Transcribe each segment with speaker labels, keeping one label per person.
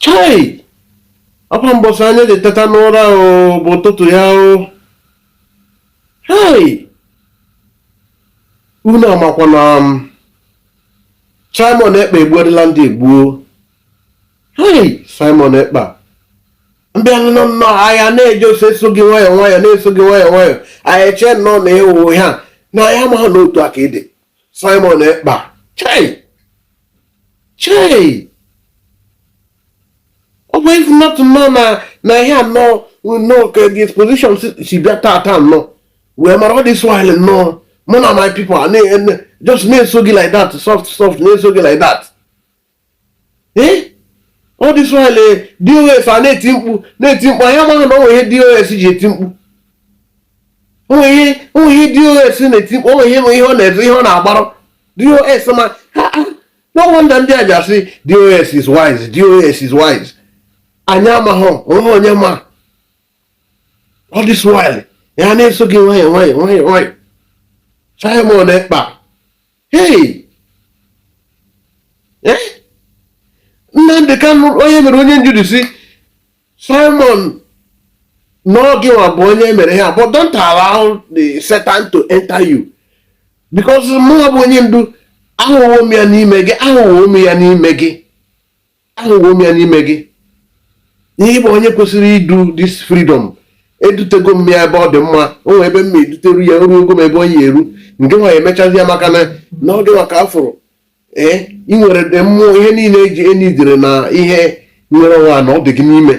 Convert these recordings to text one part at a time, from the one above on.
Speaker 1: chai ọkwa mbọsị onye ji teta n'ụra ọ bụ ụtụtụ ya o hei unu makwa na Simon Ekpa egbuola ndị egbuo hei Simon Ekpa mgbe anyị nọ nnọọ anyị na-eji ọsọ eso gị nwayọ nwayọ na-eso gị nwayọ nwayọ anyị chee nnọọ na ị wụ ha na anyị amaghị na otu aka ị dị Simon Ekpa chei chei but if not nnọọ na na ihe a nọ nnọọ ka the exposition si bịa tata nnọọ wee mara all this while nnọọ mụ na my people just na-eso gị like that soft soft na-eso gị like that ee all this while DOS a na-eti mkpu na-eti mkpu anyị amaghị na o nwe ihe DOS ji eti mkpu o nwe ihe DOS na-eti mkpu o nwe ihe ihe ọ na-eze ihe ọ na-agbarụ DOS ma no wonder ndị a ji asị DOS is wise DOS is wise anyị amaghị o nwe onye ma all this while ya na-eso gị nwayọọ nwayọọ nwayọọ nwayọọ Simon Ekpa hei eh? Nnamdị Kanụ onye mere onye ndu sị Simon na ọ gịnwa bụ onye mere ha but don't allow the Satan to enter you because mụ bụ onye ndu ahụwo m ya n'ime gị ahụwo m ya n'ime gị ahụwo m ya n'ime gị ihe ị bụ onye kwesịrị idu this freedom edutego m ya ebe ọ dị mma o nwee ebe m ma eduteru ya ruo ogo m ebe onye eru nke nwa emechazi ya maka na na ọ dịwa ka a fụrụ ee ị nwere the mmụọ ihe niile eji enidere na ihe nwere nwa na ọ dị gị n'ime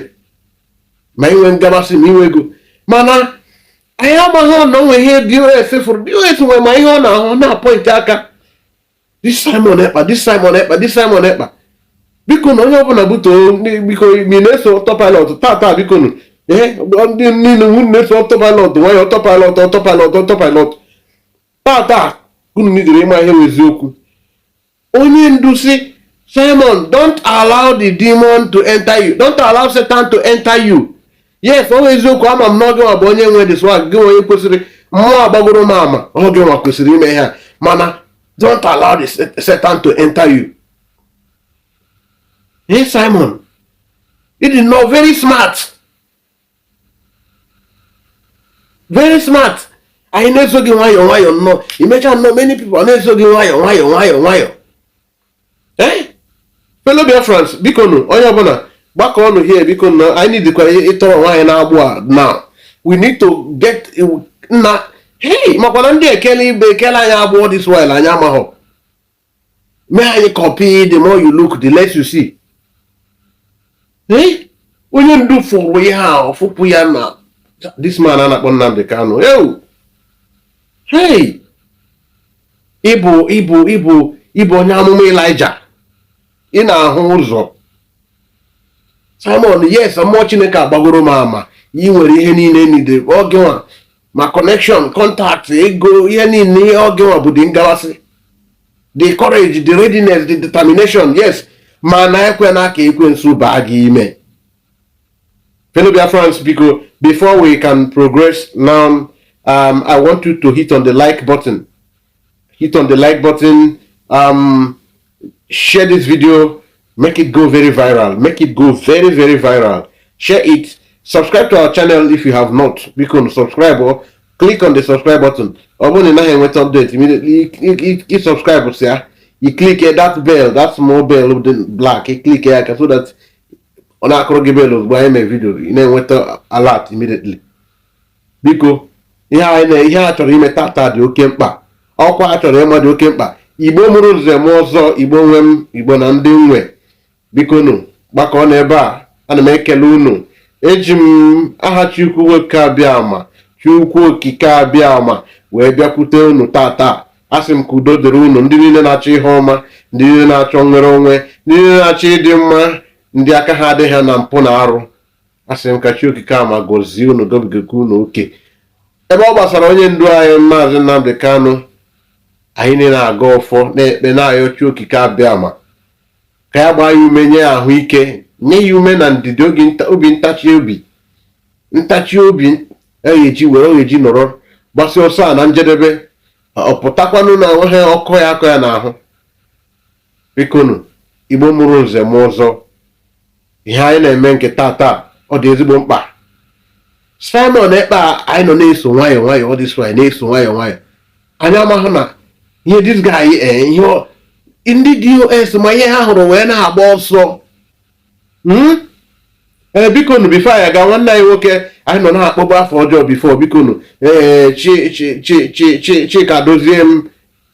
Speaker 1: ma inwe ngabasị ma inwe ego mana anyị amaghị na o nwe ihe DOS fụrụ DOS nwere ma ihe ọ na-ahụ na-apọịntị aka this Simon Ekpa this Simon Ekpa this Simon Ekpa biko nụ onye ọbụla buto biko mi na-eso autopilot tata biko nụ ee ndị niile nwu na-eso autopilot nwayọ autopilot autopilot autopilot tata unu nidere ịma ihe wụ eziokwu onye ndu sị Simon don't allow the demon to enter you don't allow Satan to enter you yes ọ bụ eziokwu ama m na ọ gịnwa bụ onye nwe the swag onye kwesịrị mmụọ agbagoro m ama ọ gịnwa kwesịrị ime ihe a mana don't allow the Satan to enter you hey Simon ị dị nnọọ very smart very smart anyị na-eso gị nwayọọ nwayọọ nnọọ i mecha nnọọ many people na-eso gị nwayọọ nwayọọ nwayọọ nwayọọ ee fellow Biafrans biko nụ onye ọbụla gbakọ ọnụ here biko nụ anyị nidikwa ịtọ onwe anyị n'agbụ a now we need to get na hey makwana ndị ekele ibe ekele anyị agbụ all this while anyị amaghọ mee anyị copy the more you look the less you see ee onye ndu fụrụ ihe a ọ fụpụ ya na this man a na-akpọ Nnamdi Kanu ewu hey ị bụ ị bụ ị bụ ị bụ onye amụma Ịlaịja ị na-ahụ ụzọ Simon yes mmụọ Chineke agbagoro m ama ị nwere ihe niile needed oge nwa ma connection contact ego ihe niile ọ ga-ewe bụ dị ngawasị the courage the readiness the determination yes mana ekwena ka ekwensu baa gị ime fellow Biafrans biko before we can progress now um, I want you to hit on the like button hit on the like button um, share this video make it go very viral make it go very very viral share it subscribe to our channel if you have not biko subscribe oo click on the subscribe button ọ bụrụ na ị naghị enweta update immediately you subscribe sịa you click that bell that small bell dị black you click ya ka so that ọ na-akụrụ gị bell ozugbo anyị mee video ị na-enweta alert immediately biko ihe a chọrọ ime tata dị oke mkpa ọkwa a chọrọ ịma dị oke mkpa igbo mụrụ nze mụọ ọzọ igbo nwe m igbo na ndị nwe biko nụ gbakọọ n'ebe a ana m ekele unu eji m aha Chukwu okike abịama Chukwu okike abịama wee bịakwute unu tata asị m ka udo dịrị unu ndị niile na-achọ ihe ọma ndị niile na-achọ nnwere onwe ndị niile na-achọ ịdị mma ndị aka ha adịghị na mpụ na arụ asị m ka chi okike abịama gọzie unu gọbigakwa unu oke ebe ọ gbasara onye ndu anyị maazị Nnamdi Kanu anyị niile na-agọ ọfọ na-ekpe na-ayọ chi okike abịama ka ya gbaa ya ume nye ya ahụike nye ya ume na ndidi obi ntachi obi ntachi obi a ga-eji were ọ ga-eji nọrọ gbasia ọsọ a na njedebe ọ pụtakwanụ na-enweghị ọkọ ya-akọ ya n'ahụ bikonu igbo mụrụ nze mụọ ọzọ ihe anyị na-eme nke tata ọ dị ezigbo mkpa Simon Ekpa anyị nọ na-eso nwayọọ nwayọọ ọ dị so anyị na-eso nwayọọ nwayọọ anyị amaghị na ihe this guy eh, ihe ọ- ndị DOS ma ihe ha hụrụ wee na-agba ọsọ Hmm? ee bikonu before anyị aga nwanne anyị nwoke anyị nọ na-akpọbu afọ ọjọọ before bikonu ee chi chi chi chi chi Chika Edoziem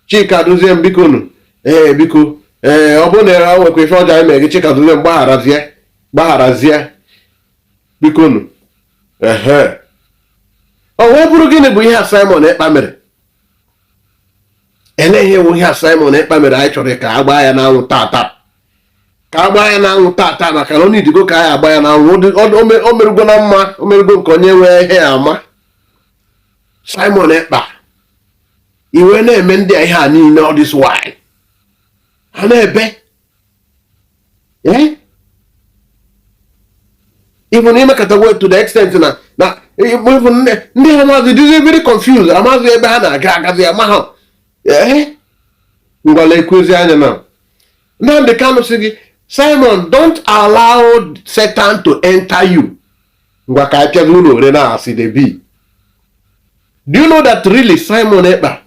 Speaker 1: Chika Edoziem biko nu ee biko ee ọ bụrụ na e nwekwa ife ọjọọ anyị mere gị Chika Edoziem gbagharazie gbagharazie biko nu ehe o wee bụrụ gịnị bụ ihe a Simon Ekpa mere elee ihe bụ ihe a Simon Ekpa mere anyị chọrọ ka a gbaa ya n'anwụ tata ka a gbaa ya n'anwụ tata maka na onye idigo ka anyị agba ya n'anwụ o merụgo na mma o merụgo nke onye nwee ihe ya ama Simon Ekpa iwe na-eme ndị a ihe a niile all this while ha na-ebe even emekatago to the extent na na even ndị ha maazị dịzi very confused amaghị ebe ha na-aga agazi amaghị ngwa lekwazi anya na Nnamdi Kanu sị gị Simon don't allow Satan to enter you ngwa ka apịa gị ụlọ ore na asị the be do you know that really Simon Ekpa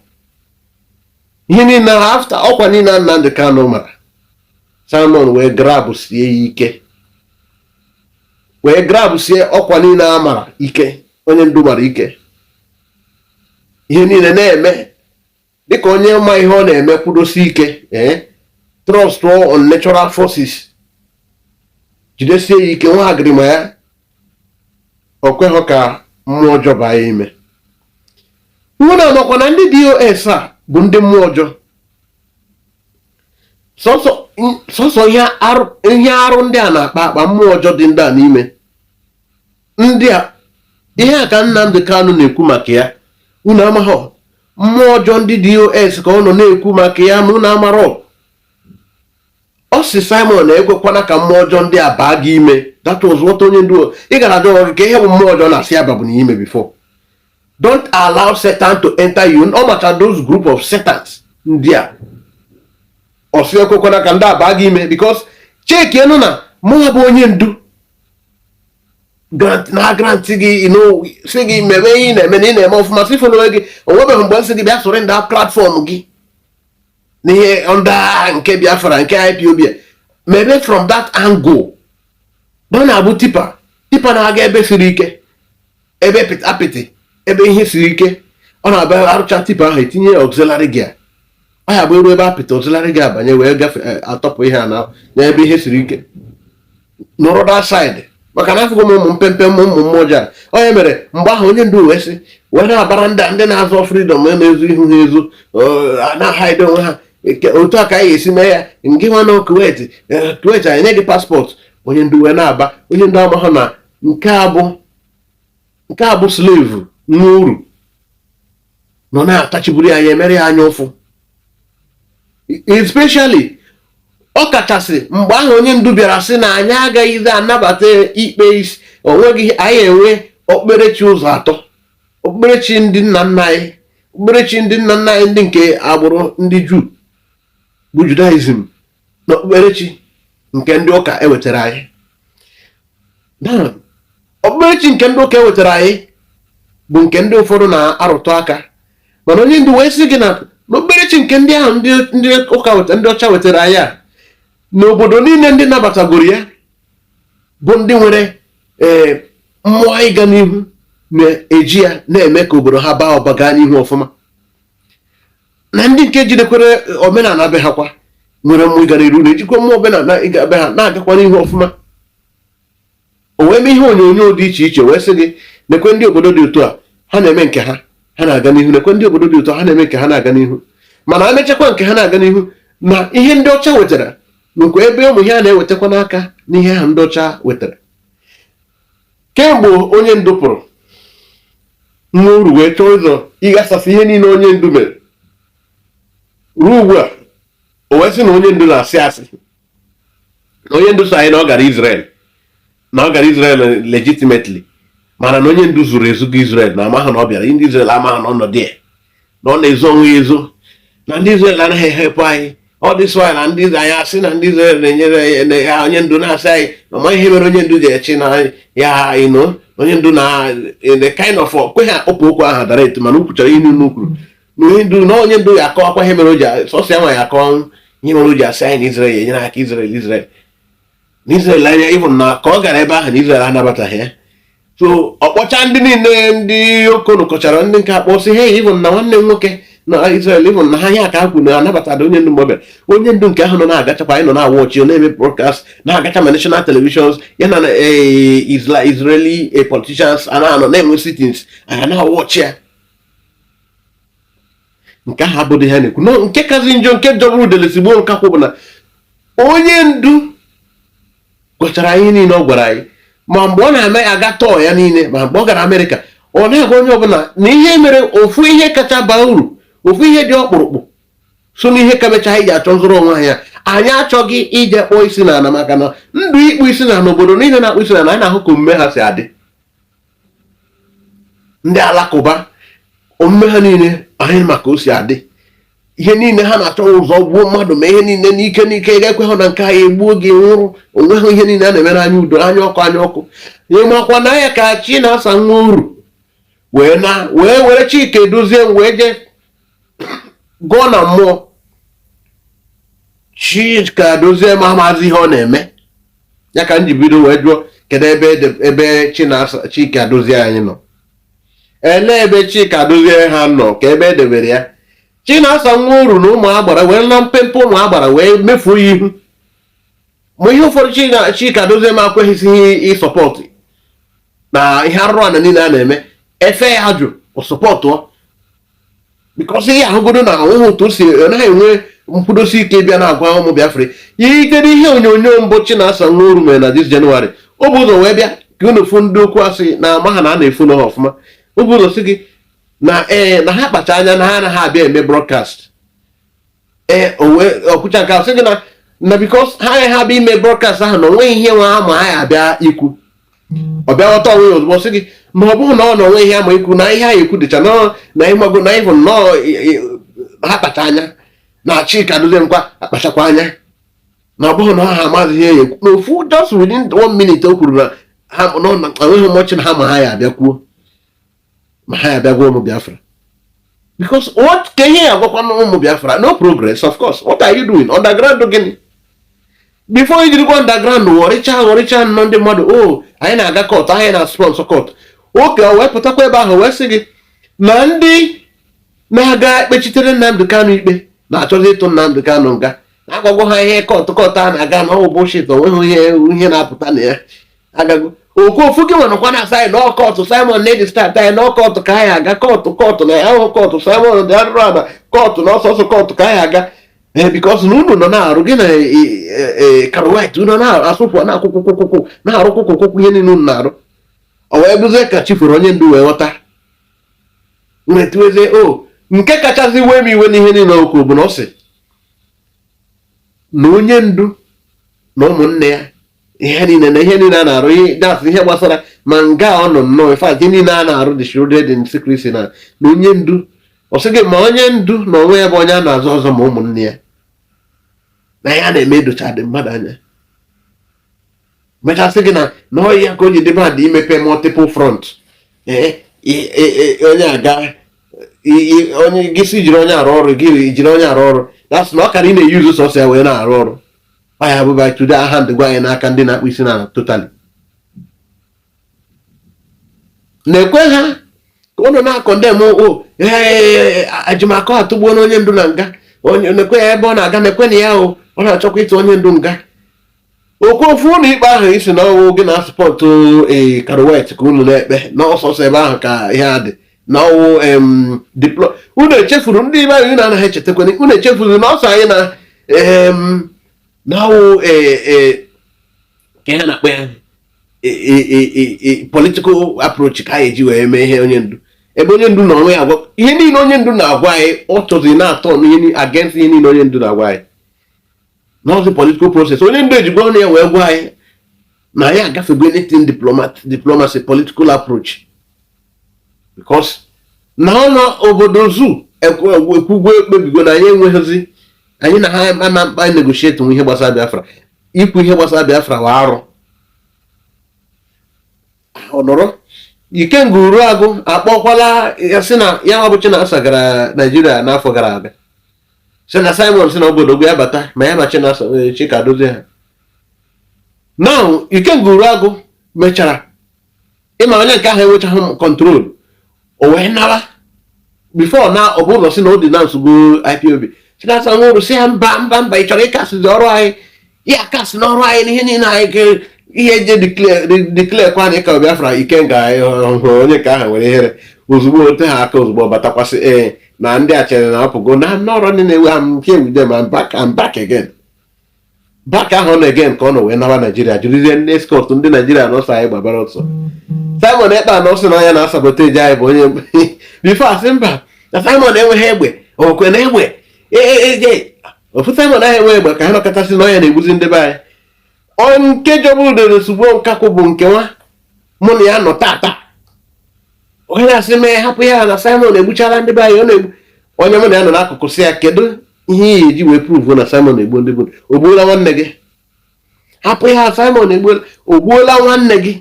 Speaker 1: ihe niile after ọkwa niile a Nnamdi Kanu mara Simon wee grab sie ya ike wee grab sie ọkwa niile a mara ike onye ndu mara ike ihe niile na-eme dịka onye ma ihe ọ na-eme kwudosi ike ee eh, trust on natural forces jidesie ya ike nwa agịrịma ya o kweghị ka mmụọ ọjọọ baa ya ime unu amakwa na ndị DOS a bụ ndị mmụọ ọjọọ sọsọ ihe arụ ndị a na-akpa akpa mmụọ ọjọọ dị ndị a n'ime ndị a ihe a ka Nnamdi Kanu na-ekwu maka ya unu amaghọ mmụọ ọjọọ ndị DOS ka ọ nọ na-ekwu maka ya ma unu amarọ ọ sị Simon ekwekwana ka mmụọ ọjọọ ndị a baa gị ime that was what onye ndu ị gara ajụ gị ka ihe bụ mmụọ ọjọọ na-asị ya babu n'ime before don't allow Satan to enter you ọ maka those group of Satans ndị a ọ sị ekwekwana ka ndị a baa gị ime because chekienu na mụ bụ onye ndu grant na grant gị sị gị mebe ihe ị na-eme na ị na-eme ọfụma si follow gị o nwebeghị mgbe m sị gị bịa surrender platform gị nye under nke Biafra nke IPOB mebe from that angle na ọ na-abụ tipper tipper na-aga ebe siri ike ebe apịtị ebe ihe siri ike ọ na-abụ a rụcha tipper ahụ etinye ya auxiliary gear ọ ya bụ eru ebe apịtị auxiliary gear abanye wee gafe eh, atọpụ ihe a na n'ebe ihe siri ike nọrọ that side maka na afụgo m ụmụ mpempe ụmụ ụmụ mmụọ ji onye mere mgbe ahụ onye ndu wee sị wee na-abara ndị ndị na-azọ freedom na-ezo ihu ha ezo eh, na-ahide onwe ha otu a ka anyị ga-esi mee ya nke nwa na Kuwait eh, Kuwait anyị nye gị passport onye ndu wee na-aba onye ndu amahụ na nke a bụ nke a bụ slave nwa oru nọ na-atachiburu ya ya emere ya anya ụfụ especially ọ kachasị mgbe ahụ onye ndu bịara sị na anyị agaghịzi anabata ikpe isi o nweghị anyị enwe okpukperechi ụzọ atọ okpukperechi ndị nna nna anyị okpukperechi ndị nna nna anyị ndị nke agbụrụ ndị juu bụ judaism na okpukperechi nke ndị ụka ewetara anyị okpukperechi nke ndị ụka ewetara anyị bụ nke ndị ụfọdụ na-arụtụ aka mana onye ndu wee sị gị na n'okpukperechi nke ndị ahụ ndị ụka ndị ọcha wetara anyị a na obodo niile ndị nabatagoro ya bụ ndị nwere ee eh, mmụọ ịga n'ihu na-eji ya na-eme ka obodo ha baa ụba gaa n'ihu ọfụma na ndị nke jidekwara omenala be ha kwa nwere mmụọ ịga n'iru na-ejikwa mmụọ omenala ịga be ha na-agakwa n'ihu ọfụma o wee mee ihe onyonyo dị iche iche wee sị gị nekwe ndị obodo dị otu a ha na-eme nke ha ha na-aga n'ihu nekwe ndị obodo dị otu a ha na-eme nke ha na-aga n'ihu mana a mechakwa nke ha na-aga n'ihu n'ihe ndị ọcha wetara nekwa ebe ụmụ ihe a na-ewetakwa n'aka n'ihe ha ndị ọcha wetara kemgbe onye ndu pụrụ nwa oru wee chọọ ụzọ ịghasasị ihe niile onye ndu mere ruo ugbu a o wee sị na onye ndu na-asị asị na onye ndu sị anyị na ọ gara Israel na ọ gara Israel legitimately mana na onye ndu zoro ezo gaa Israel na amaghị na ọ bịara ndị Israel amaghị na ọ nọ there na ọ na-ezo onwe ya ezo na ndị Izrel anaghị ehelp anyị all this while anyị asị na ndị Izrel na-enyere ya onye ndu na-asị anyị na ma ihe mere onye ndu ji echi na ya you know onye ndu na the kind of kweghị akpọpụ okwu ahụ direct mana o kwuchara ihe niile o kwuru na onye ndu na onye ndu ga-akọwakwa ihe mere o ji sọsọ ya nwa ya akọ ihe mere o ji asị anyị na Izrel ya enyere aka Izrel Izrel na Israel anya even na ka ọ gara ebe ahụ na Israel anabataghị ya so ọ kpọcha ndị niile ndị okonu kọchara ndị nke akpọ sị hey even na nwanne m nwoke na Israel even na ha ihe aka kwuru na anabatara onye ndu mgbe ọ bịara onye ndu nke ahụ nọ na-agachakwa anyị nọ na-awatch ọ na-eme broadcast na-agacha ma national televisions ya na eh, Israeli eh, politicians a na-anọ na-enwe sittings a na-awatch ya nke ahụ abụghị ihe a na-ekwu nke kazị njọ nke jọgburu udele sigbuo nkakwụ bụ na onye ndu gwachara ihe niile ọ gwara anyị ma mgbe ọ na-eme aga tour ya niile ma mgbe ọ gara amerịka ọ na-agwa onye ọbụla na ihe mere ofu ihe kacha baa uru ofu ihe dị ọkpụrụkpụ so n'ihe ka mecha anyị ji achọ nzọrọ onwe anyị na anyị achọghị ije kpọọ isi n'ala maka na ndị ịkpọ isi n'ala obodo niile na-akpọ isi n'ala anyị na-ahụ ka omume ha si adị ndị alakụba omume ha niile anyị ma ka o si adị ihe niile ha na-achọ ụzọ gbuo mmadụ ma ihe niile n'ike n'ike ga-ekwe ha na nke anyị egbuo gị nwụrụ onweghị ihe niile a na-emere anya udo anya ọkụ anya ọkụ ịmakwa na ya ka Chinasa Nworu wee na wee were Chika Edoziem wee jee gọọ na mmụọ Chika Edoziem amazị ihe ọ na-eme ya ka m ji bido wee jụọ kedu ebe ebe Chika Edozie anyị nọ ele ebe Chika Edozie a nọ ka ebe edebere ya Chinasa Nworu na ụmụ agbara wee na mpempe ụmụ agbara wee mefuo ya ihu ma ihe ụfọdụ Chika Edoziem akweghịzighị ịsọpọtụ na ihe arụrụ ana niile a na-eme efe ya jụ ọ sọpọtụọ because ị ya-ahụgodo na ahụhụ otu o si ọ naghị enwe nkwudosi ike bịa na-agwa ụmụ Biafra i gere ihe onyonyo mbụ Chinasa Nworu mere na this January o bu ụzọ wee bịa ka unu fụ ndị okwu asị na ama ha na a na-efu n'ọha ọfụma o bu ụzọ sị gị na ee na ha kpacha anya na ha anaghị abịa eme broadcast ee o wee kwucha nke a sị gị na na because ha agaghị abịa ime broadcast ahụ na onweghị ihe nwa ha ma ha ya abịa ikwu ọ bịa ghọta onwe ya ozugbo sị gị ma ọ bụghị na ọ na onwe ihe ama ikwu na ihe a ekwu dịcha nọọ na ịmago na ịbụ nnọọ ha kpacha anya na Chika Edoziem kwa akpachakwa anya na ọ bụghị na ha amaghị ihe ya ekwu na ofu just within one minute o kwuru na ha nọ na enweghị much na ha ma ha ya abịa kwuo ma ha abịagwa ụmụ Biafra because what kee ihe ị ya-agwakwanụ ụmụ Biafra no progress of course what are you doing underground gịnị before i jirikwa underground ghọrịcha ghọrịcha nnọ ndị mmadụ o oh, anyị na-aga court anyị na sponsor court okay o wee pụtakwa ebe ahụ wee sị gị na ndị na-aga ekpechitere Nnamdị Kanụ ikpe na-achọzi ịtụ Nnamdị Kanụ nga na agwago ha ihe court court a na-aga na ọ bụ bullshit onweghị ihe ihe na-apụta na ya agago okofu gị nwanakwa na saị na ọkọtụ simon lady start anyị na ọkọtụ ka anyị aga kọtụ kọtụ na ya ahụ kọtụ simon dị arụrụ ana kọtụ na ọsọsọ kọtụ ka anyị aga ee because na unu nọ na-arụ gị na karwit unu na-asụpụ na akwụkwọ kwụkwụkwụ na-arụ kwụkwụkwụ ihe niile unu na-arụ ọ wee bụzie ka chi fere onye ndu wee ghọta nwetuezie o nke kachasị wee m iwe n'ihe niile o kwu bụ na ọ sị na onye ndu na ụmụnne ya ihe niile na ihe niile a na-arụ ihe that's ihe gbasara ma nga ọ nọ nnọọ ife ihe niile a na-arụ dị shrouded in secrecy na na onye ndu ọ sị gị ma onye ndu na onwe ya bụ onye a na-azọ azọ ma ụmụnne ya na ya na-eme edochaghị mmadụ anya mecha sị gị na na ọ ya ka o ji dị bad imepe multiple front ee onye aga onye gị si jiri onye arụ ọrụ gị jiri onye arụ ọrụ that's na ọ kara ị na-eyuzu sọsọ ya wee na-arụ ọrụ ọ ya bụ by today aha ndị gwa anyị n'aka ndị na-akpụ isi n'ala totally na-ekwe ha ka ụnụ na-acondemn o Ejimakor atụgbuo na onye ndu na nga na-ekwe ya ebe ọ na-aga na-ekwe na ya o ọ na-achọkwa ịtụ onye ndu nga okwu ofu ụlọ ikpe ahụ ị sị na ọ wụ gị na-asụpọtụ ee eh, karuwet ka unu na-ekpe na ọ sọsọ ebe ahụ ka ihe a dị na ọ wụ diplo unu echefuru ndị be anyị na-anaghị echetakwana unu echefuru na ọ sị anyị na na ọ wụ e, e, kee ihe a na-akpọ ya e, political approach ka anyị ji wee mee ihe onye ndu ebe onye ndu na onwe ya agwa ihe niile onye ndu na-agwa anyị ọ chọzi na-aturn against ihe niile onye ndu na-agwa anyị n'ụzọ political process onye ndu ejigbo ọnụ ya wee gwa anyị na anyị agafego anything diplomacy political approach because na ọnụ obodo zoo ekwugwo ekpebigo na anyị enweghịzi anyị na ha ama mkpa negotiate ihe gbasara Biafra ikwu ihe gbasara Biafra wụ arụ ọ nọrọ Ikenga Uruagụ akpọkwala ya sị na ya nwa bụ Chinasa gara Naijiria n'afọ gara aga sị na Simon sị na obodo gwa ya bata ma ya na Chinasa eh, Chika Edoziem ha now Ikenga Uruagụ mechara ịma onye nke ahụ enwechaghị control o wee nara before na ọ bụrụ na sị na ọ dị na nsogbu IPOB Chinasa Nworu sị ya mba mba mba ị chọrọ ịkasịzi ọrụ anyị ya kasị n'ọrụ anyị n'ihe niile anyị ga ihe e ji declare kwa anyị ka Biafra Ikenga ahụ onye nke ahụ nwere ihere ozugbo ote ha aka ozugbo batakwasị ee na ndị a chere na ọ pụgo na n'ọrụ ndị na-ewe ha nke ewude I'm back I'm back again back ahụ na again ka ọ nọ wee naba Naijiria jirizie ndị escort ndị Naijiria na ọ sọ anyị gbabara ọsọ Simon Ekpa anọ sị na ọ ya na-asabotage anyị bụ onye before a sị mba na Simon enweghị egbe ọkwa na egbe e, e, e, ofu Simon ahụ enweghị egbe ka ha nọkọta sị na ọ ya na-egbuzi ndị be anyị ọ nke jọgburu udele sigbuo nkakwụ bụ nke nwa mụ na ya nọ tata onye na-asị m hapụ ya na Simon egbuchala ndị be anyị ọ na-egbu onye mụ na ya nọ n'akụkụ sị ya kedu ihe ị ya-eji wee prove na Simon egbuo ndị bụ o gbuola nwanne gị hapụ ya Simon egbuola o gbuola nwanne gị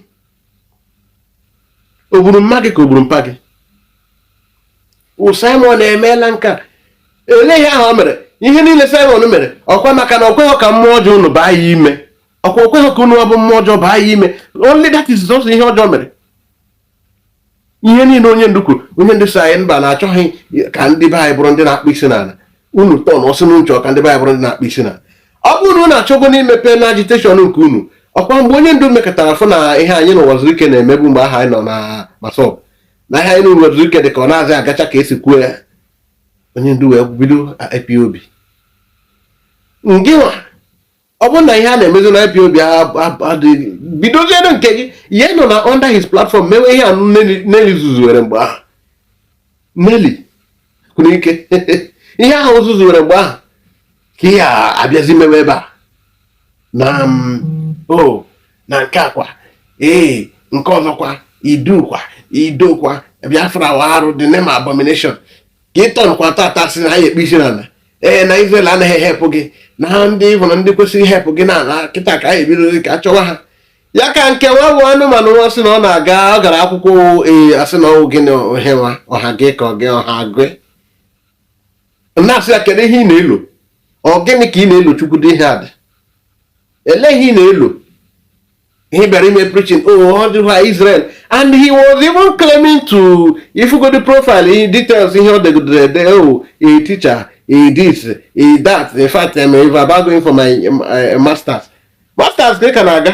Speaker 1: o gburu mma gị ka o gburu mpa gị o Simon emeela nke a olee ihe ahụ o mere ihe niile Simon mere ọkwa maka na o kweghị ka mmụọ ọjọọ unu baa ya ime ọkwa o kweghị ka unu bụ mmụọ ọjọọ baa ya ime only that is ihe ọjọọ o mere ihe niile onye ndu kwuru onye ndu sị anyị mba na achọghị ka ndị be anyị bụrụ ndị na-akpọ isi n'ala unu tọnọ sị na unu chọ ka ndị be anyị bụrụ ndị na-akpọ isi n'ala ọ bụrụ na unu achọgo n'imepe na agitation nke unu ọkwa mgbe onye ndu mekọtara fụ na ihe anyị na Ụwazuruike na-emebu mgbe ahụ anyị nọ na MASSOB na ihe anyị na Ụwazuruike dị ka ọ nazị agacha ka e si kwuo ya onye ndu wee bido IPOB ngịnwa ọ bụrụ na ihe a na-emezi na IPOB adịghị bidoziere nke gị ị ya-anọ na under his platform mewe ihe anụ Nelly zuzuwere mgbe ahụ Nelly kwuru ike ihe ha zuzuwere mgbe ahụ ka ị ya-abịazi mewe ebe a na mm, o na nke akwa ee nke ọzọkwa idukwa idokwa Biafra wa arụ the name abomination ka ị tọnụkwa tata sị na anyị akpọ isi n'ala ee na Israel anaghị ehelpụ gị na ha ndị ịbụ na ndị kwesịrị ihelpụ gị n'ala kịta ka anyị ebido gị ka a chọwa ha ya ka nke nwa bụ anụmanụ nwa sị na ọ na-aga ọ gara akwụkwọ ee a sị na ọ wụ gị na ohe nwa ọha gị ka ọ gị ọha gị na-asị ya kedu ihe ị na-elo ọ gịnị ka ị na-elo chukwu dị ihe a dị ele ihe ị na-elo he bịara ime preaching o oh, ọ dịghị Israel and he was even claiming to ị fụgodi profile details ihe o degidere ede o oh, a teacher a this a that in fact I'm about going for my uh, masters masters gị ka na-aga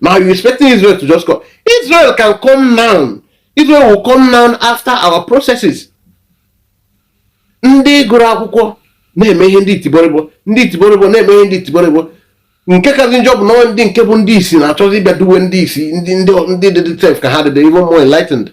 Speaker 1: Now you're expecting Israel to just come. Israel can come now. Israel will come now after our processes. Ndị gụrụ akwụkwọ na-eme ihe ndị itiborịbọ ndị itiborịbọ na-eme ihe ndị itiborịbọ nke kazi njọ bụ na ndị nke bụ ndị isi na-achọzi ịbịa duwe ndị isi ndị ndị dị sef ka ha dịdị even more enlightened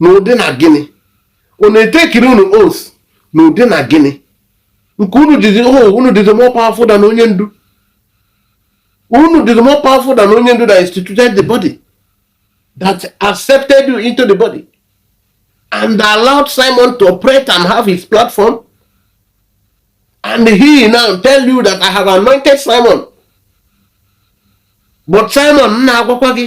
Speaker 1: n'ụdị na gịnị ọ na-etekiri unu oath n'ụdị na gịnị nke unu dịzi oh, unu dịzi more powerful than onye ndu unu dịzi more powerful than onye ndu that instituted the body that accepted you into the body and allowed Simon to operate and have his platform and he now tell you that I have anointed Simon but Simon m na-agwakwa gị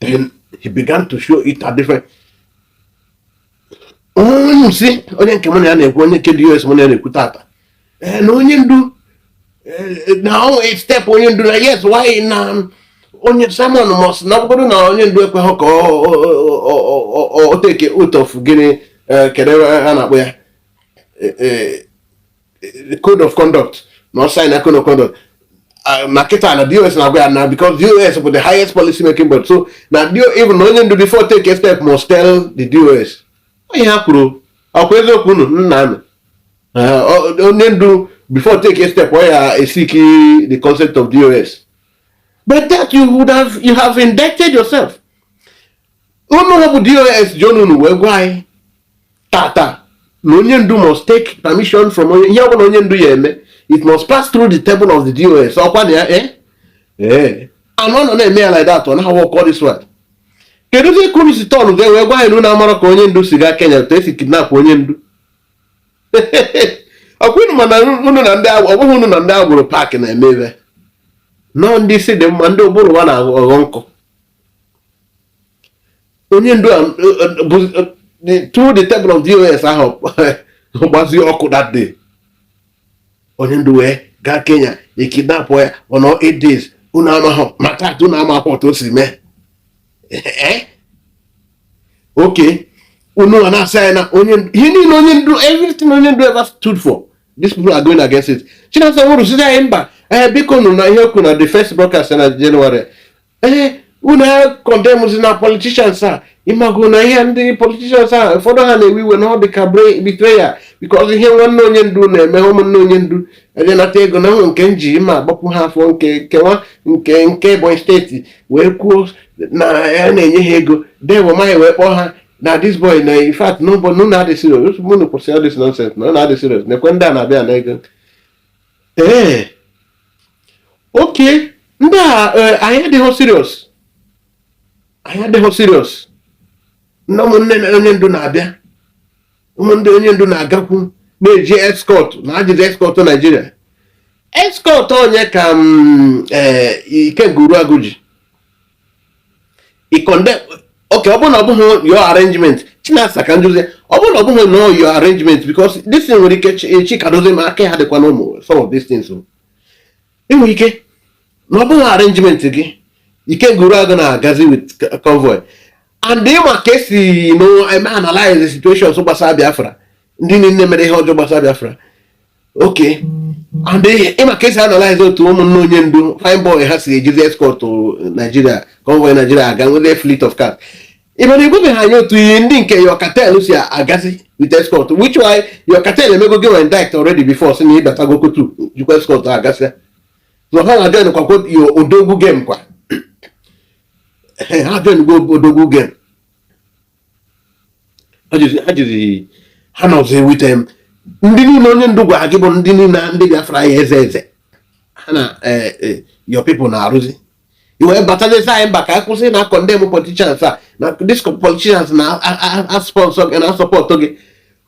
Speaker 1: then he began to show it at different onye sị onye nke mụ na ya na-ekwu onye nke dị US mụ na ya na-ekwu tata eh, na onye ndu eh, na overstep onye ndu na yes why na onye Simon must na ọ bụrụ na onye ndu ekweghị ka o teke oath of gịnị eh, kedụ ihe a na-akpọ ya eh, code of conduct na ọ sign code of conduct ah, na kịta na dos na-agwa ya na because dos bụ the highest policy making board so na even onye ndu before take a step must tell the dos ọ ihe ha kwuru ọkwa eziokwu unu na-anụ eh, onye ndu before take a step ọ ya-eseek the concept of dos but that you have indicted yourself unu bụ dos ji ọnụ unu wee gwa anyị tata na onye ndu must take permission from onye ihe ọbụla onye ndu ya-eme it must pass through the table of the dos ọkwa na ya eh? ee anụ ọ nọ na-eme ya like that ọ na-awụ ọkọ this one kedu ka unu si turn ya wee gwa anyị na unu amarọ ka onye ndu si gaa kenya otu esi kidnap onye ndu ọkwa unu ma na unu na ndị ọ bụghị unu na ndị agboro park na-eme ebe a nọọ ndị isi dị mma ndị ụbụrụ ha na-aghọ nkọ onye ndu a bụ through the table of dos ahụ gbazie ọkụ that day onye ndu wee gaa kenya ekidnap ya ọ nọọ eight days unu amaghị maka atụ unu amakwa otu o si mee oke unu a na-asị anyị na onye ihe niile onye ndu everything onye ndu ever stood for these people are going against it chinasa nworu sị anyị mba ee bikonụ na ihe o kwu na the first broadcast na January ee unu acondemnzina politicians a ị mago na ihe ndị politicians a ụfọdụ ha na-ewe iwe na ọ dị ka betrayal because ihe nwanne onye ndu na-eme ụmụnne onye ndu eje nata ego na ahụ nke nji ma agbapụ ha afọ nke kewa nke nke ebonyi state wee kwuo na ya na-enye ha ego dave umahi wee kpọọ ha na this boy na in fact n'ụbọ na unu adị serious unu kwụsị all this nonsense na unu adị serious nekwe ndị a na-abịa ana ego ee oke ndị a e, anyị adịghị serious anyị adịghị serious ndị ụmụnne onye ndu na-abịa ụmụnne onye ndu na-agakwu na-eji escort na-ejizi escort Nigeria escort onye ka mm, e, ikenga uruagụ ji oke ọ bụrụ na ọ bụghị your arrangement chinasa ka m jụzi ọ bụrụ na ọ bụghị your arrangement because this thing nwere ike chika edoziem aka ha dịkwa n'ime some of these things e nwere ike na ọ bụghị arrangement gị ikenga uruagụ na-agazi with convoy and ị ma ka e si me analyze situations gbasara Biafra ndị niile mere ihe ọjọọ gbasara Biafra oke ị ma ka e si analyze otu ụmụnne onye ndu fine boy ha si ejizi escort Nigeria convoy Nigeria aga nwere fleet of cars mana ị gwabeghị anyị otu ihe ndị nke your cartel si agazi with escort which why your cartel emego gị indict already before sị na ịbatago kotu jikwa escort agazi so ha ejoinkwago your odogwu game ọkwa ha ejoingo odogwu game ha jiri ha na ọzọ ewute m ndị niile onye ndu gwara gị bụ ndị niile ndị Biafra ya-eze eze ha na eh, eh, your people na-arụzi ị wee batazie sị anyị mba ka anyị kwụsị na-acondemn politicians a na these politicians na-asponsor gị na-asupport gị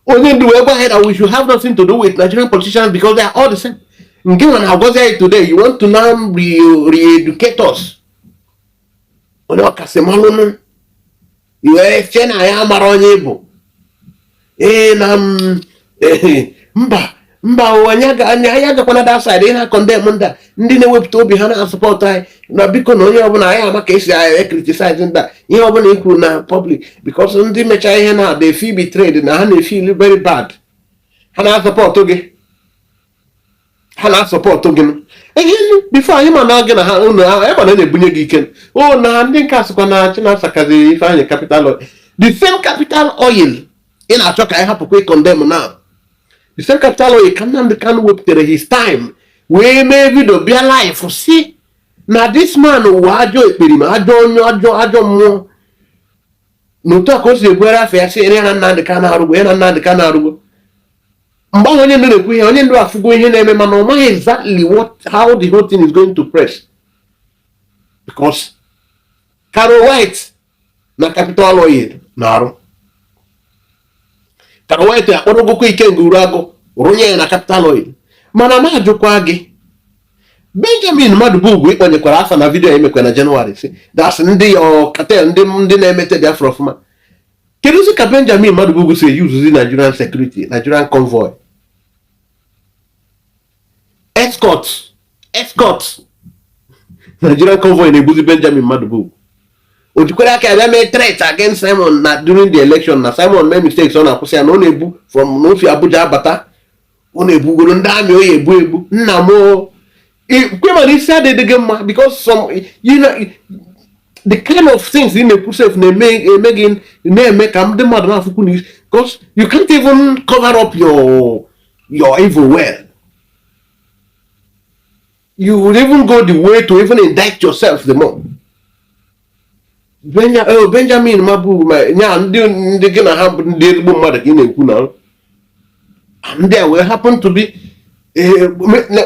Speaker 1: onye ndu wee gwa anyị na we should have nothing to do with Nigerian politicians because they are all the same gị nwa na-agwazi anyị today you want to now re-educate us onye ọkasị malụnụ ị wee chee na ya mara onye ị bụ ee na mba mba ụwa anyị agakwana that side ị na-acondemn ndị ndị na-ewepụta obi ha na-asupport anyị na biko na onye ọbụla anyị ama ka esi anyị ecriticize ndị a ihe ọbụla i kwuru na public because ndị mecha ihe na they feel betrayed na ha na-efeel very bad ha na-asupport gị ha na-asupport gị before anyị ma na gị na ha ụlọ ahụ anyị mana na-ebunye gị ike o oh, na ndị nke asịkwa na Chinasa kaziri Ifeanyị capital oil the same capital oil ị na-achọ ka anyị hapụkwa ịcondemn na the same capital oil ka Nnamdi Kanu wepụtara his time wee mee vidio bịa live sị na this man wụ ajọ ekperima ajọ onye ajọ ajọ mmụọ na otu a ka o si ebuere afọ ya sị ya na Nnamdi Kanu arụgbo ya na Nnamdi Kanu arụgbo mgbe ahụ onye ndu na-ekwu ihe onye ndu afụgo ihe na-eme mana ọ maghị exactly what how the whole thing is going to press because Caro White na Capital Oil na-arụ Caro White akpọrọgokwa Ikenga Uruagụ rụnye ya na Capital Oil mana m ajụkwa gị benjamin madụbugwu ị kpọnyekwara afa na vidiyo i mekwa na jenụwarị sị DOS ndị cartel ndị ndị na-emete biafra ọfụma keduzi ka benjamin madụbugwu si eyuzuzi nigerian security nigerian convoy escort escort nigerian convoy na-ebuzi benjamin madụbugwu o jikwara aka ya bịa mee threat against simon na during the election na simon mee mistakes ọ na-akwụsị ya na ọ na-ebu from na o si abuja abata ọ na-ebugoro ndị army ọ ya-ebu ebu nna m kwema na isi adịghị gị mma because some you know the kind of things ị na-ekwu sef na-eme eme gị na-eme ka ndị mmadụ na-afụkwu na because you can't even cover up your your evil well you will even go the way to even indict yourself the more oh, benjamin mabu nya ndị ndị gị na ha bụ ndị ezigbo mmadụ ka ị na-ekwu na ndị a wee happen to be eh,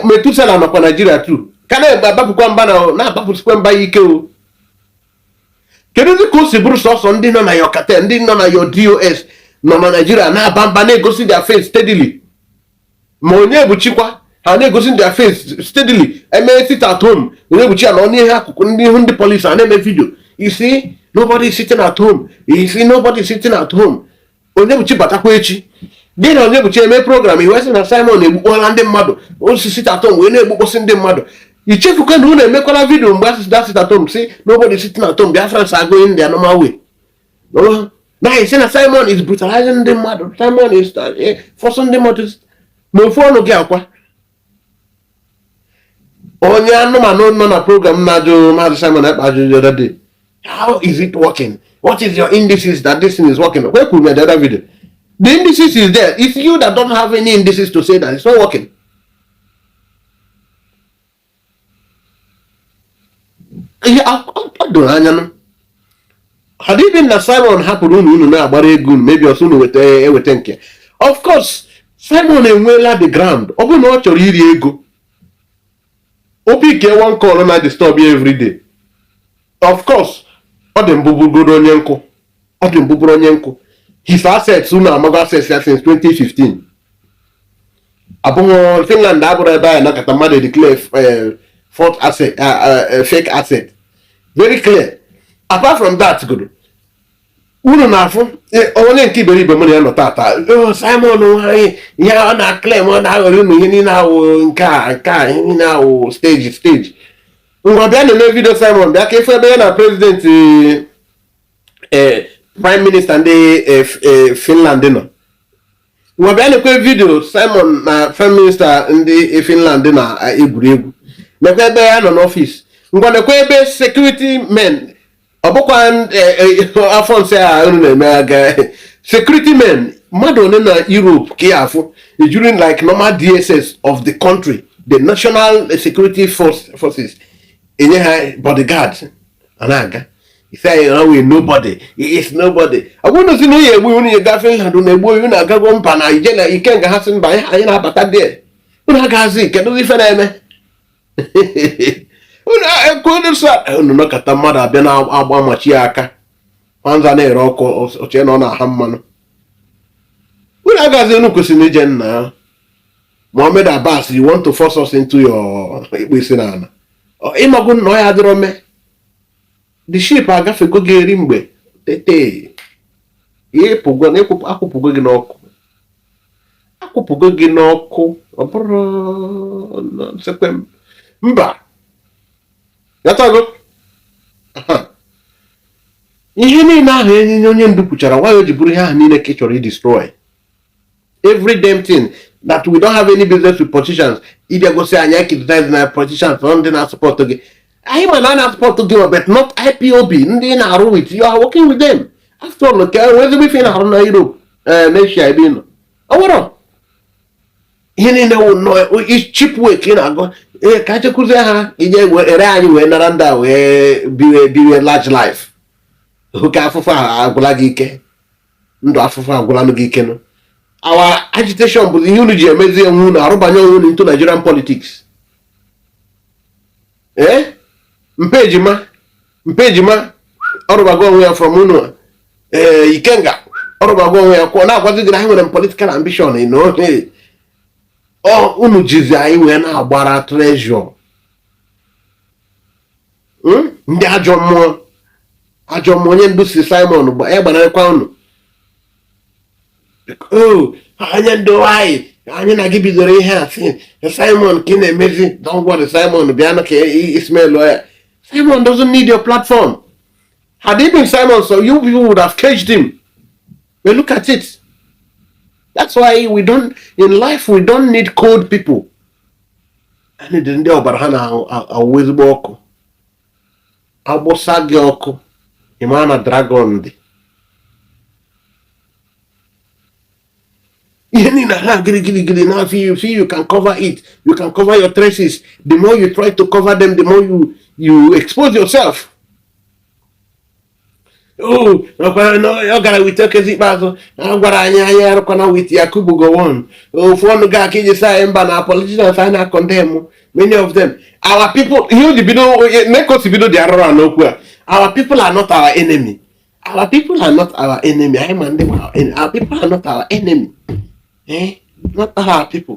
Speaker 1: Methuselah nọkwa naijiria too ka na-abapụkwa mba na-abapụsikwa mba ya ike o keduzi ka o si bụrụ sọsọ ndị nọ na your cartel ndị nọ na your DOS nọ na naijiria na-aba mba na-egosi their face steadily ma Onyebuchikwa ha na-egosi their face steadily eme sit at home Onyebuchi ya na onye ihe akụkụ ndị ihu ndị polisi a na-eme vidio ị sị nobody is sitting at home ị sị nobody is sitting at home Onyebuchi batakwa echi gị na Onyebuchi eme program ị wee sị na Simon egbukpọla ndị mmadụ osisi sit at home wee na-egbukpọsị ndị mmadụ i chefukwa na unu emekwala vidio mgbe a sị sị sit at home sị nobody is sitting at home Biafrans are going their normal way na ị sị na Simon is brutalizing ndị mmadụ Simon is eh, forcing ndị mmadụ ma ofu ọnụ gị a kwa onye anụmanụ nọ na program na-ajụ maazị Simon Ekpa ajụjụ the other day how is it working what is your indices that this thing is working where could the other video the indices is there it's you that don't have any indices to say that it's not working ihe o doro anya na had it been na simon hapụrụ unu unu na-agbara ego unu maybe ọsọ unu weta eweta nke of course simon enweela the ground ọ bụrụ na ọ chọrọ iri ego ọ bụ kee why ọ ka na disturb ya everyday of course ọ dị mbụ bụgoro onye nkụ ọ dị mbụ bụrụ onye nkụ his assets unu amago assets ya since 2015 abụghị Finland abụrọ ebe anyị nọkata mmadụ declare eh, false asset eh, eh, fake asset very clear apart from that godo unu na-afụ onye nke iberibe mụ na ya nọ tata oh, Simon nwanyị ihe ọ na-aclaim ọ na-aghọrọ unu ihe niile ahụ nke a nke a ihe niile ahụ stage stage ngwa bịa na-eme vidio Simon bịa ka ị fụ ebe ya na president eh, prime minister ndị eh, eh, finland nọ ngwa bịa nekwa vidio simon na prime minister ndị finland na eh, egwuri egwu nekwa ebe ya nọ n'ọfịs ngwa nekwa ebe security men ọ bụkwa eh, eh, afọ nsị a unu na-eme aga security men mmadụ one na europe ka ị ya-afụ e jiri like normal dss of the country the national security force, forces enye ha bodyguard a na-aga isi anyị na wee nobody is nobody agwa unu sị na onye egbu unu ya gaa Finland na egbu unu agago mba na ije na Ikenga ha sị mba anyị na-abata dị unu agaghịzi kedu ife na-eme unu nọkata mmadụ abịa na-agba ma chi ya aka nwa nza na-ere ọkụ o chee na ọ na-aha mmanụ unu agaghịzi unu kwesịrị ije nna Mohammed Abbas you want to force us into your ikpe isi na ala ị mago na ọ ya adịrọ mee the ship agafego gị eri mgbe tete ịpụgo na akwụpụgo gị n'ọkụ akwụpụgo gị n'ọkụ ọ bụrụ nsekwe mba yatago ihe niile ahụ enyenye onye ndu kwuchara why o ji bụrụ ihe ahụ niile ka ị chọrọ idestroy every damn thing that we don't have any business with politicians ị bịa gosi anyị anyị criticize na politicians na ndị na-asupport gị anyị ma na a na-asupport gị ma but not IPOB ndị ị na-arụ with you are working with them after all ka enwe ezigbo ife ị na-arụ na Europe eh, na Asia ebe ị nọ ọ nwere ihe niile wụ nnọọ cheap way ka ị na-agụ ee ka anyị kụzie ha ije ere anyị wee nara ndị a wee biwe biwe large life oke afụfụ ahụ agwụla gị ike ndụ afụfụ agwụlanụ gị ike nụ our agitation bụ ihe unu ji emezi onwe unu arụbanye onwe unu into Nigerian politics ee eh? Mpa Ejima Mpa Ejima ọ rụbago onwe ya from unu ee eh, Ikenga ọ rụbago onwe ya kwụọ na-agwazi gị na ha nwere political ambition na ọ ihe unu jizi anyị wee na-agbara treasure hmm? ndị ajọ mmụọ ajọ mmụọ onye ndu sị Simon gba ya gbanarịkwa unu oh, onye ndu anyị na gị bidoro ihe a sị Simon ka ị na-emezi don't worry Simon bịa na ka Ismail lụọ ya Simon doesn't need your platform had it been Simon so you people would have caged him but look at it that's why we don't in life we don't need cold people anyị need ndị ọbara ha na-awụ ezigbo ọkụ agbụsa gị ọkụ ị ma na dragon dị ihe niile ha gịrị gịrị gịrị na afọ you see you can't cover it you can't cover your traces the more you try to cover them the more you you expose yourself ọ gara with Okezie Ikpeazu a gwara anyị anyị arụkwana with Yakubu Gowon ofu ọnụ gị a ka i ji sị anyị mba na politicians anyị na-acondemn many of them our people ihe o ji bido ne ka o si bido dị arụrụ n'okwu a our people are not our enemy our people are not our enemy anyị ma ndị our people are not our enemy eh not our people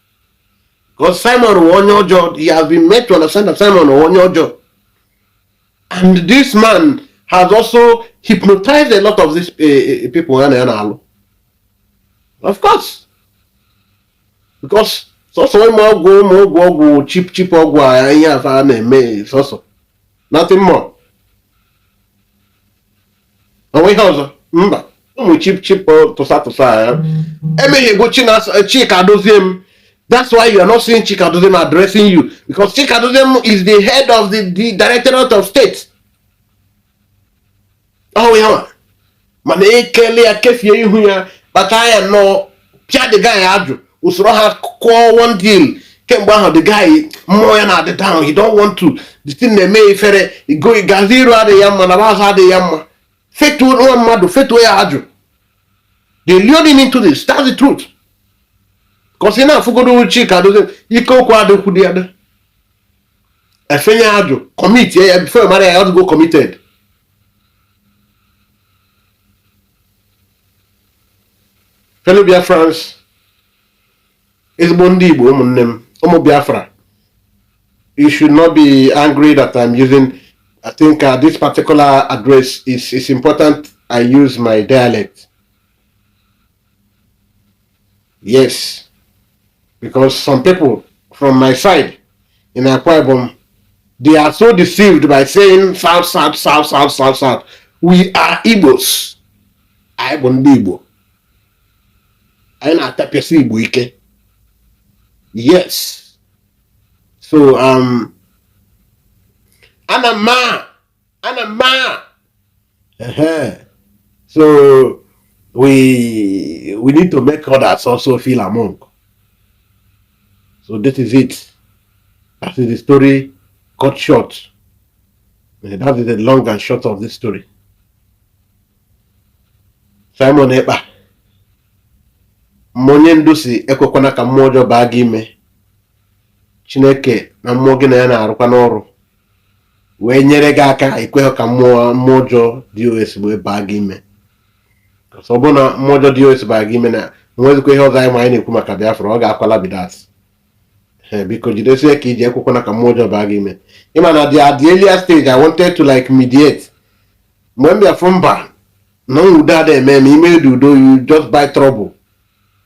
Speaker 1: Because Simon wụ onye ọjọọ, he has been made to understand that Simon wụ onye ọjọọ. And this man has also hypnotized a lot of these uh, people. Of course. Because sọsọ ụmụ ọgwụ ụmụ ọgwụ ọgwụ cheap cheap ọgwụ a ihe a fa na-eme sọsọ nothing more o nwe ihe ọzọ mba ụmụ cheap cheap tụsa tụsa ya emeghị bụ Chika Edoziem that's why you are not seeing Chika Edoziem addressing you because Chika Edoziem is the head of the, the directorate of state ọ wụ ya mana ekele ya kefie ihu ya kpata ya nnọọ pịa the guy ajụ o soro ha kụọ one deal kemgbe ahụ the guy mmụọ ya na-adị down he don't want to the thing na-eme ya ifere gazi iru adịghị ya mma na azụ adịghị ya mma fetuo nwa mmadụ fetuo ya ajụ they lured him into this that's the truth because ị na-afụgodu Chika Edoziem ike okwu adịkwu dị ada e fenye ya ajụ commit ya before ọ mara ya ọ dịgo committed fellow Biafrans ezigbo ndị Igbo ụmụnne m ụmụ Biafra you should not be angry that I'm using I think uh, this particular address is is important I use my dialect Yes, because some people from my side in Akwa Ibom, they are so deceived by saying south, south, south, south, south, south. We are Igbos. I bụ ndị Igbo. Anyị na-atapịasị Igbo ike. Yes. So, um, ana m ana mma so we we need to make others also feel among so this is it that is the story cut short eh, that is the long and short of this story Simon Ekpa mmụọ onye ndu sị ekwekwana ka mmụọ ọjọọ baa gị ime Chineke na mmụọ gị na ya na-arụkwa n'ọrụ wee nyere gị aka ekweghị ka mmụọ mmụọ ọjọọ DOS wee baa gị ime ọ bụrụ na mmụọ ọjọọ DOS baa gị ime na nwezikwa ihe ọzọ anyị ma anyị na-ekwu maka Biafra ọ gaakwala be that biko jidesie ka i ji ekwekwana ka mmụọ ọjọọ baa gị ime ị ma na at the earlier stage I wanted to like mediate mgbe m bịa fụ mba na udo ada eme eme i medị udo you just buy trouble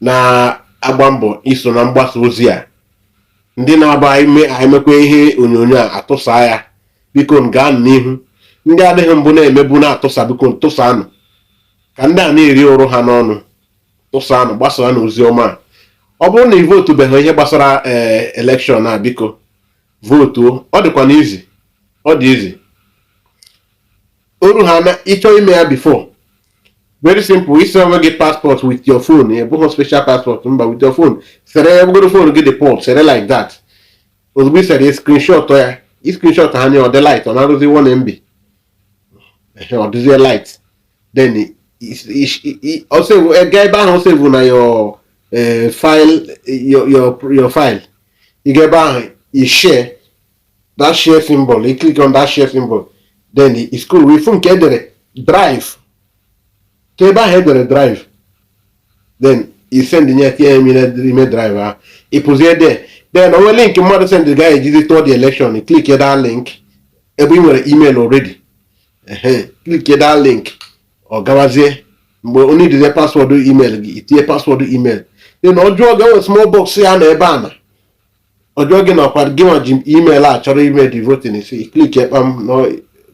Speaker 1: na-agba mbọ iso na mgbasa ozi a ndị na-aba emekwa ihe onyonyo a atụsa ya biko gaa n'ihu ndị adịghị mbụ na-emebu na-atụsa biko tụsanụ ka ndị a na-eri ụrụ ha n'ọnụ tụsanụ gbasaanụ ozi ọma ọ bụrụ na ị votubeghị ihe gbasara ee eh, election a biko votuo ọ dịkwanụ easy ọ dị easy oru ha na ị chọọ ime ya before very simple i see onwe gị passport with your phone ọ bụghị special passport mba with your phone sere ya ọ bụgodu phone gị dị poor sere like that ozugbo i sere ya screenshot ya i screenshot ya nye ọ dị light ọ na-eruzi 1 mb ọ dịzie light then ga ebe ahụ ọ save na your eh, file your file ị ga ebe ahụ i share that share symbol you click on that share symbol then ị scroll wee fụ nke e dere drive ga ebe ahụ e dere drive then i sendie tinye ya n'ime drive ahụ ị put it there then o nwe link mmadụ send a ga-ejizi tụọ the election click that link ebe ị nwere email already click that link ọ gawazie mgbe ọ needizi password email gị i tinye password email then ọ ga-enwe small box ya na ebe a na ọ jụọ gị na ọkwa gị nwa ji email a chọrọ ime the voting isi click ekpa m na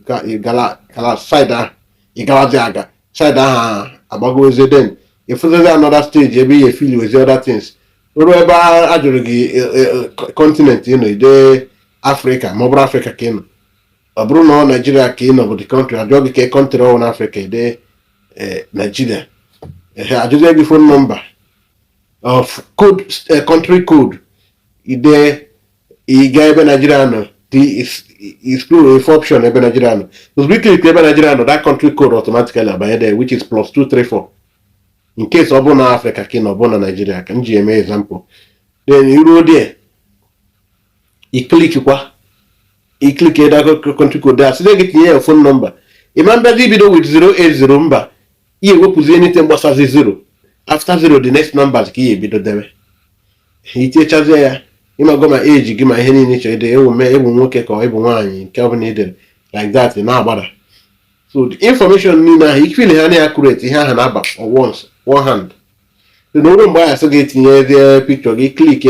Speaker 1: ka ị gara gara side ahụ ị garazi aga side ahụ agbagozie then ị fụzazi another stage ebe ị ya-efill wezi other things ruo ebe a a jụrụ gị continent ị nọ i dee Africa ma ọ bụrụ Africa ka ị nọ ọ bụrụ na ọ Nigeria ka ị nọ bụ the country ajụọ gị ka country ọ wụ n'Africa i dee eh, Nigeria ehe ajụzie gị phone number of code eh, country code ide ị ga ebe Nigeria nọ explore if option ebe Nigeria nọ ozugbo ị clickiri ebe Nigeria nọ that country code automatically abanye there which is plus 234 in case ọ bụ na Africa ka ị nọ ọ bụ na Nigeria ka m ji eme example then i ruo there ị clickikwa ị click that country code a sị gị tinye your phone number ị ma bịazi ibido with 080 mba ị ya-ewepụzi anything gbasazi 0 after 0 the next numbers ka ị ya-ebido debe i tinyechazie ya ị mago ma age gị ma ihe niile chọrọ ide ewu ma ị bụ nwoke ka ị bụ nwaanyị nke ọ bụla i dere like that na-agbada so the information niile ahụ ị fill ha na accurate ihe ahụ na-aba once one hand na oru mgbe ahụ sị gị tinyezie picture gị click